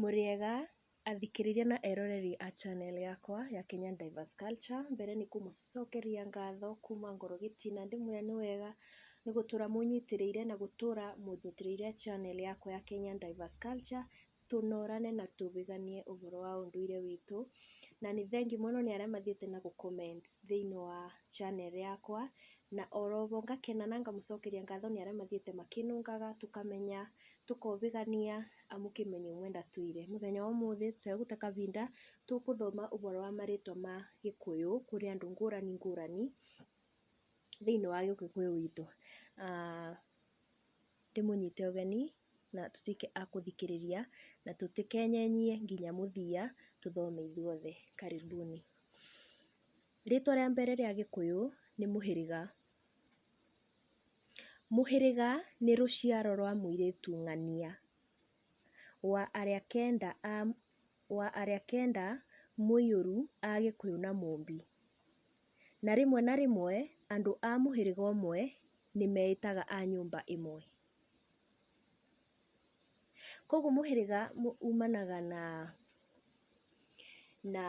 Mũrĩega athikĩrĩria na eroreri a channel yakwa ya Kenyan Divers Culture, mbere nĩ kũmũcokeria ngatho kuma ngoro gĩtina ndĩmwĩre nĩ wega nĩ gũtũra mũnyitĩrĩire na gũtũra mũnyitĩrĩire channel yakwa ya Kenyan Divers Culture, tũnorane na tũgĩganie ũhoro wa ũndũire witũ, na nĩ thengiũ mũno nĩ arĩa mathiĩte na gũ comment thĩiniĩ wa channel yakwa, na oroho ngakena na ngamũcokeria ngatho nĩ arĩa mathiĩte makĩnũngaga tũkamenya Tũkobĩgania amu kĩmenyo imwe ndatũire. Mũthenya wa ũmũthĩ tũtegũte kabinda, tũkũthoma ũboro wa marĩtwa ma gĩkũyũ kũrĩ andũ ngũrani ngũrani thĩinĩ wa gĩkũyũ gitũ. Ndĩmũnyite ũgeni na tũtuĩke a kũthikĩrĩria na tũtĩkenyenyie nginya mũthia tũthome ithuothe. Karibuni. Rĩtwa rĩa mbere rĩa gĩkũyũ nĩ mũhĩrĩga. Mũhĩrĩga nĩ rũciaro rwa mũirĩtu ng'ania, wa arĩa kenda a wa arĩa kenda mũiyũru a gĩkũyũ na mũmbi. Na rĩmwe na rĩmwe andũ a mũhĩrĩga ũmwe nĩmeĩtaga a nyũmba ĩmwe. Koguo mũhĩrĩga umanaga na na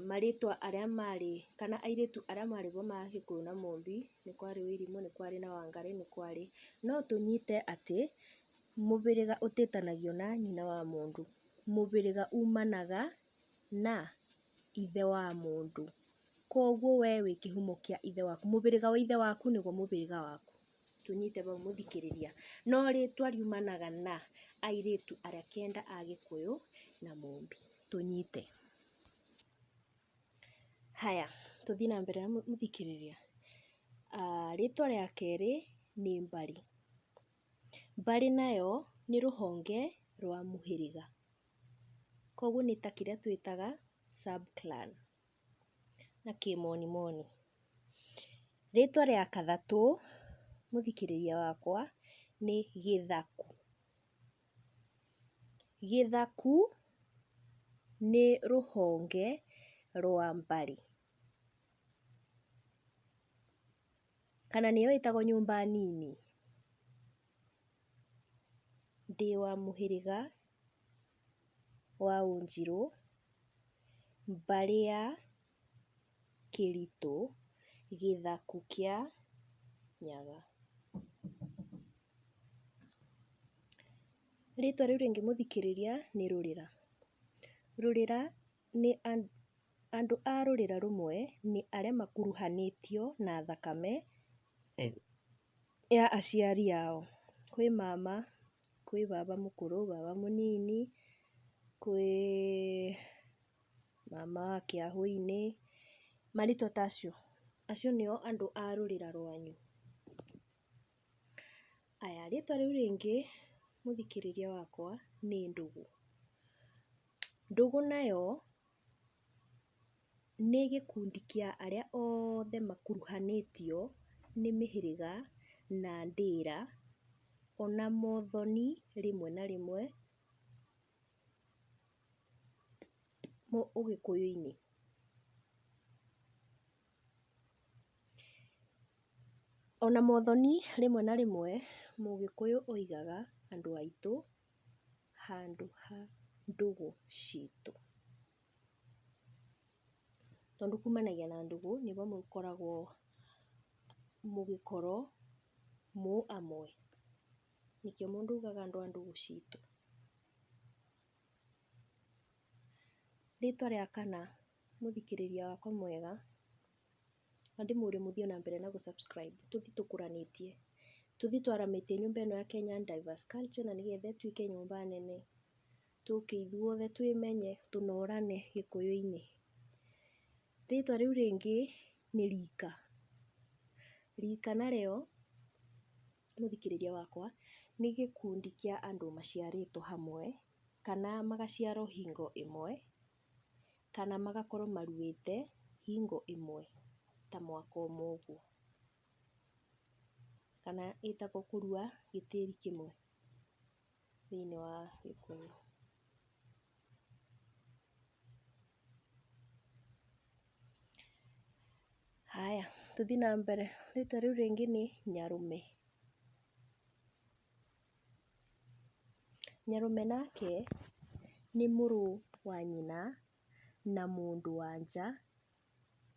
marĩtwa arĩa marĩ, kana airĩtu arĩa marĩ kuo ma Gĩkũyũ na Mũmbi, nĩ kwarĩ Wairimũ, nĩ kwarĩ na Wangarĩ, nĩ kwarĩ. No tũnyite atĩ, mũhĩrĩga ũtĩtanagio na nyina wa mũndũ, mũhĩrĩga umanaga na ithe wa mũndũ. Koguo we wĩ kĩhumo kĩa ithe waku, mũhĩrĩga wa ithe waku nĩguo mũhĩrĩga waku. tũnyite bau mũthikĩrĩria. No rĩtwa riumanaga na airĩtu arĩa kenda a Gĩkũyũ na Mũmbi. Tũnyite. Haya, tũthiĩ na mbere mũthikĩrĩria. Rĩtwa rĩa kerĩ nĩ Mbarĩ. Mbarĩ nayo nĩ rũhonge rwa mũhĩrĩga. Koguo nĩ ta kĩrĩa twĩtaga sub clan. na kĩmoni moni. Rĩtwa rĩa Kathatũ mũthikĩrĩria wakwa nĩ Gĩthaku. Gĩthaku nĩ rũhonge rwa Mbari, kana nĩyo ĩtagwo nyũmba nini. Ndĩ wa mũhĩrĩga. wa Wanjiru, mbarĩ ya Kĩritũ, gĩthaku kĩa Nyaga. Rĩtwa rĩu rĩngĩ mũthikĩrĩria nĩ Rũrĩra. Rũrĩra nĩ andũ a rũrĩra rũmwe nĩ arĩa makuruhanĩtio na thakame ya aciari ao. Kwĩ mama. kwĩ baba mũkũrũ, baba mũnini, kwĩ mama wa kĩahu-inĩ, marĩtwa ta acio, acio nĩo andũ a rũrĩra rwanyu? Aya rĩtwa rĩu rĩngĩ mũthikĩrĩria wakwa nĩ ndũgũ. Ndũgũ nayo Nĩ gĩkundi kĩa arĩa othe makuruhanĩtio nĩ mĩhĩrĩga na ndĩra, ona mothoni rĩmwe na rĩmwe ũgĩkũyũ-inĩ. Ona mothoni rĩmwe na rĩmwe mũgĩkũyũ oigaga andũ aitũ. handũ ha ndũgũ citũ. Tondũ kumanagia na ndũgũ nĩho mũkoragwo mũgĩkoro mũũ amwe, nĩkĩo mũndũ augaga andũ a ndũgũ citũ. Rĩtwa rĩa kana. Mũthikĩrĩria wakwa mwega, na ndĩmũrie mũthiĩ o na mbere na gũ subscribe tũthiĩ tũkũranĩtie, tũthiĩ twaramĩtie nyũmba ĩno ya Kenyan Diverse Culture na nĩgetha ĩtuĩke nyũmba nene, tũke ithuothe twĩmenye, tũnorane gĩkũyũ-inĩ. Rĩtwa rĩu rĩngĩ nĩ rika. Rika narĩo, mũthikĩrĩria wakwa, nĩ gĩkundi kĩa andũ maciarĩtwo hamwe, kana magaciarwo hingo ĩmwe. kana magakorwo maruĩte hingo ĩmwe ta mwaka ũmwe ũguo, kana ĩtagwo kũrua gĩtĩri kĩmwe thĩiniĩ wa gĩkũyũ. Haya tũthiĩ na mbere, rĩtwa rĩu rĩngĩ nĩ nyarũme. Nyarũme nake nĩ mũrũ wa nyina na mũndũ wa nja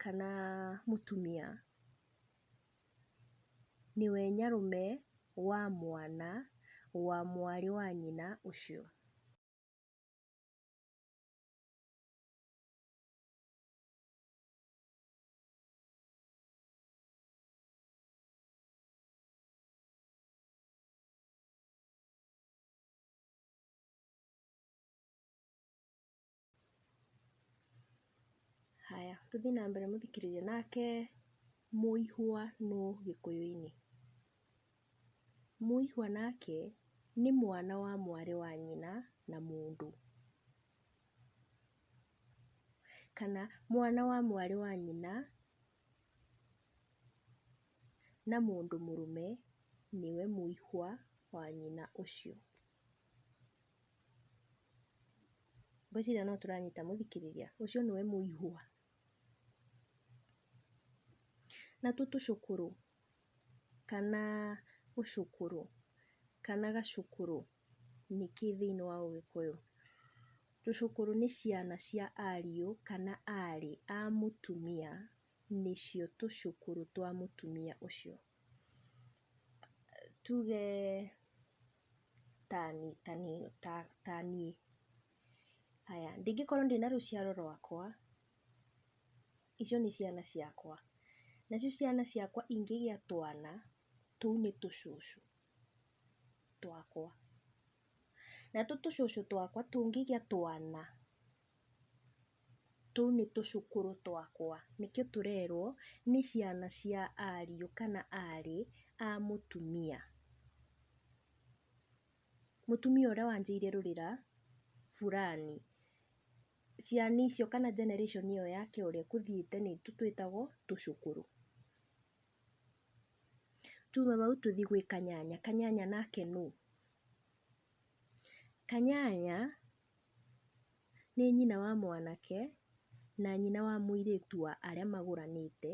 kana mũtumia. Nĩwe nyarũme wa mwana wa mwarĩ wa nyina ũcio. Haya, tũthiĩ na mbere mũthikĩrĩria. Nake mũihwa nũ gĩkũyũ-inĩ? Mũihwa nake nĩ mwana wa mwarĩ wa nyina na mũndũ, kana mwana wa mwarĩ wa nyina. na mũndũ mũrũme nĩwe mũihwa wa nyina ũcio. Ngwĩciria no tũranyita mũthikĩrĩria, ũcio nĩwe mũihwa. Natuo tũcũkũrũ kana ũcũkũrũ kana gacũkũrũ nĩkĩ thĩiniĩ wa ũgĩkũyũ? Tũcũkũrũ nĩ ciana cia ariũ kana arĩ a mũtumia, nĩcio tũcũkũrũ twa mũtumia ũcio. Tuge tani tani ta taniĩ, haya ndingĩkorwo ndĩna rũciaro rwakwa, icio nĩ ciana ciakwa, nacio ciana ciakwa ingĩgĩa twana, tũu nĩ tũcũcũ. twakwa. Natũ tũcũcũ twakwa tũngĩgĩa twana, tũu nĩ tũcũkũrũ twakwa, nĩkĩo tũrerwo nĩ ciana cia ariũ kana arĩ a mũtumia. Mũtumia ũrĩa wanjĩire rũrĩra burani. Ciana icio kana generation ĩyo yake ĩrĩa ĩkũthiĩte nĩ tũtwĩtagwo tũcũkũrũ. Tuuma bau tũthi gwĩ kanyanya, kanyanya nake nũ? Kanyanya nĩ nyina wa mwanake na nyina wa mũirĩtu wa arĩa magũranĩte,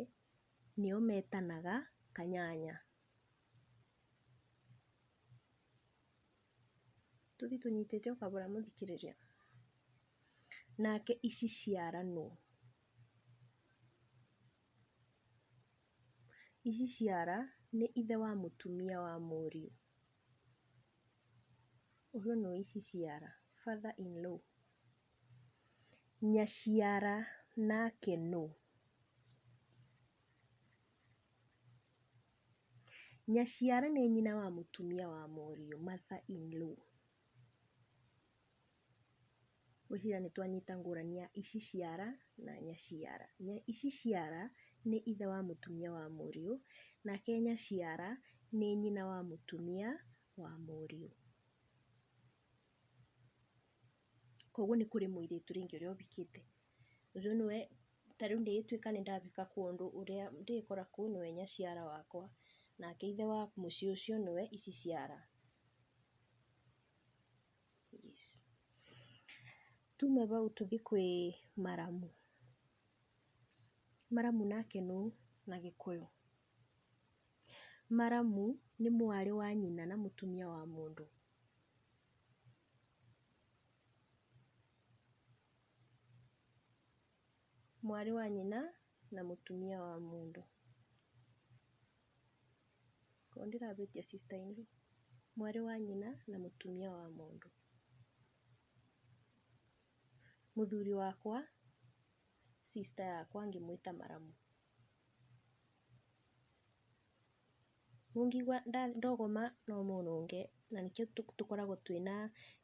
nĩo metanaga kanyanya. Tũthi tũnyitĩte o kabora mũthikĩrĩria. Nake ici ciara nũ? Ici ciara nĩ ithe wa mũtumia wa mũriũ. Ũyũ nĩ ici ciara, father in law. Nyaciara nake nũ? Nyaciara nĩ nyina wa mũtumia wa mũriũ, mother in law. Ngwĩciria nĩ twanyita ngũrani ya ici ciara na nyaciara. Ici ciara nĩ ithe wa mũtumia wa mũriũ, nake nyaciara nĩ nyina wa mũtumia wa mũriũ. Koguo nĩ kũrĩ mũirĩtu rĩngĩ ũrĩa ũhikĩte, ũcio nĩwe, ta rĩu ingĩgĩtuĩka nĩ ndahika kũndũ, ũrĩa ndĩgĩkora kũu nĩwe nyaciara wakwa, nake ithe wa mũciĩ ũcio nĩwe ici ciara. Tume bau tũthiĩ kwĩ maramu. Maramu nake nũ na gĩkũyũ? Maramu nĩ mwarĩ wa nyina na mũtumia wa mũndũ. Mwarĩ wa nyina na mũtumia wa mũndũ. Korwo ndĩrahĩtia sister in law, mwarĩ wa nyina na mũtumia wa mũndũ. Mũthuri wakwa, sister yakwa ngĩmwĩta maramu. Mũngĩigua ndogoma no mũnũnge na nĩkĩo tũkoragwo twĩna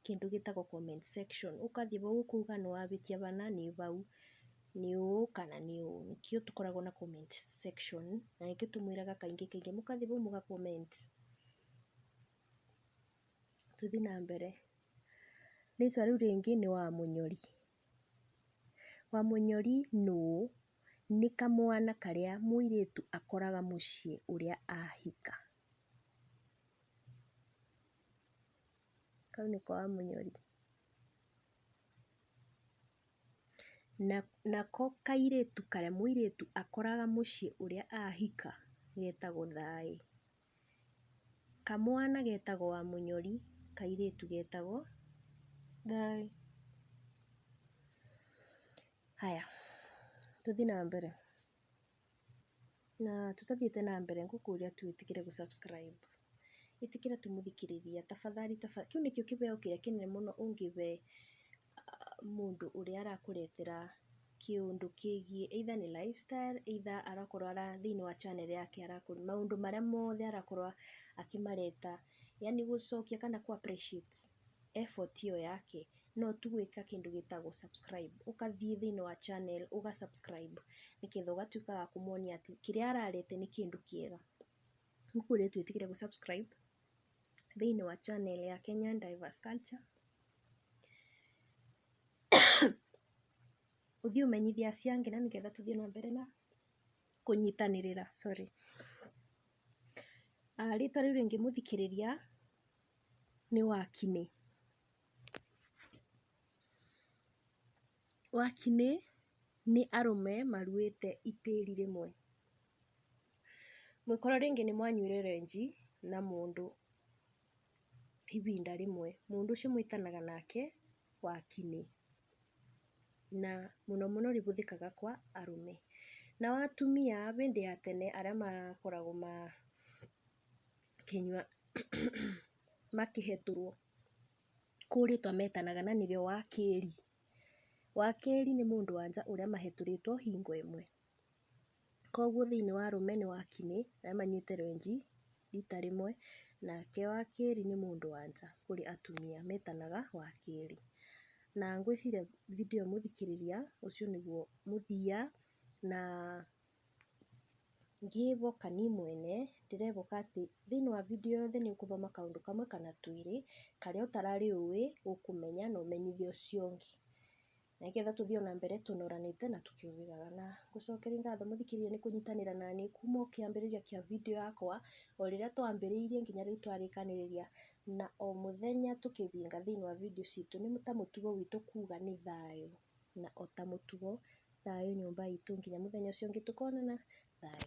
kĩndũ gĩtagwo comment section, ũgathiĩ hau ũkauga nĩ wahĩtia hana nĩ hau, nĩ ũũ kana nĩ ũũ, nĩkĩo tũkoragwo na comment section, na nĩkĩo tũmwĩraga kaingĩ kaingĩ mũgathiĩ hau mũga comment. Tũthiĩ na mbere, rĩtwa rĩu rĩngĩ nĩ Wamũnyori. Wamũnyori nũũ? Nĩ kamwana karĩa mũirĩtu akoraga mũciĩ ũrĩa ahika. kau nĩ kwa mũnyori. Na nako kairĩtu karĩa mũirĩtu akoraga mũciĩ ũrĩa ahika getagwo thaĩĩ. Kamwana getagwo wa mũnyori, kairĩtu getagwo thaĩĩ. Haya tũthiĩ na mbere. Na tũtathiĩte na mbere ngũkũria tu wĩtĩkĩre gũ subscribe. Ĩtĩkĩra tu mũthikĩrĩria tafadhali tafadhali. Kĩu nĩkĩo kĩbeo kĩrĩa kĩnene mũno ũngĩbe mũndũ ũrĩa arakũretera kĩũndũ kĩgiĩ either nĩ lifestyle, either arakorwo ara thĩinĩ wa channel yake arakorwo maũndũ marĩa mothe arakorwo akĩmareta. Yaani gũcokia kana kũ appreciate effort ĩyo yake no tu gwĩka kĩndũ gĩtagwo subscribe ũgathiĩ thĩinĩ wa channel ũga subscribe nĩgetha ũgatuĩka wa kũmonia atĩ kĩrĩa ararete nĩ kĩndũ kĩega. Gũkũ ũrĩa twĩtĩkĩre gũ subscribe thĩinĩ wa channel ya Kenyan Diverse Culture ũthiĩ ũmenyithie aciari angĩ na nĩgetha tũthiĩ na mbere na kũnyitanĩrĩra sorry. Rĩtwa rĩu rĩngĩ mũthikĩrĩria nĩ wakinĩ. Wakinĩ nĩ arũme maruĩte itĩri rĩmwe. Mũngĩkorwo rĩngĩ nĩ mwanyuire ranji na mũndũ ihinda rĩmwe, mũndũ ũcio mwĩtanaga nake wakinĩ. Na mũno mũno rĩhũthĩkaga kwa arũme. Nao atumia hĩndĩ ya tene arĩa makoragwo kĩnyua makĩhetũrwo kũu rĩtwa metanaga na nĩrĩo wakĩri. Wakĩri nĩ mũndũ wa nja ũrĩa mahetũrĩtwo hingo ĩmwe. Koguo thĩiniĩ wa arũme nĩ wakĩnĩ arĩa manyuĩte rwenji rita rĩmwe, nake wakĩri nĩ mũndũ wa nja kũrĩ atumia metanaga wakĩri. Na ngwĩciria video ĩyo mũthikĩrĩria ũcio nĩguo mũthia na Ngĩĩvoka niĩ mwene, ndĩrevoka atĩ thĩinĩ wa video ĩyo yothe nĩ ũkũthoma kaũndũ kamwe kana twĩrĩ, karĩa ũtararĩ ũĩ ũkũmenya na ũmenyithie ũcio ũngĩ. Na nĩgetha tũthiĩ o na mbere tũnoranĩte na tũkĩũwĩgaga. Na ngũcokeria ngatho mũthikĩrĩria nĩ kũnyitanĩra na niĩ kuuma o kĩambĩrĩria kĩa video yakwa, o rĩrĩa twambĩrĩirie nginya rĩu twarĩkanĩrĩria. Na o mũthenya tũkĩthianga thĩinĩ wa video citũ nĩ ta mũtugo witũ kuuga nĩ thayũ. na o ta mũtugo, thayũ nyũmba itũ nginya mũthenya ũcio ũngĩ tũkonana, thayũ.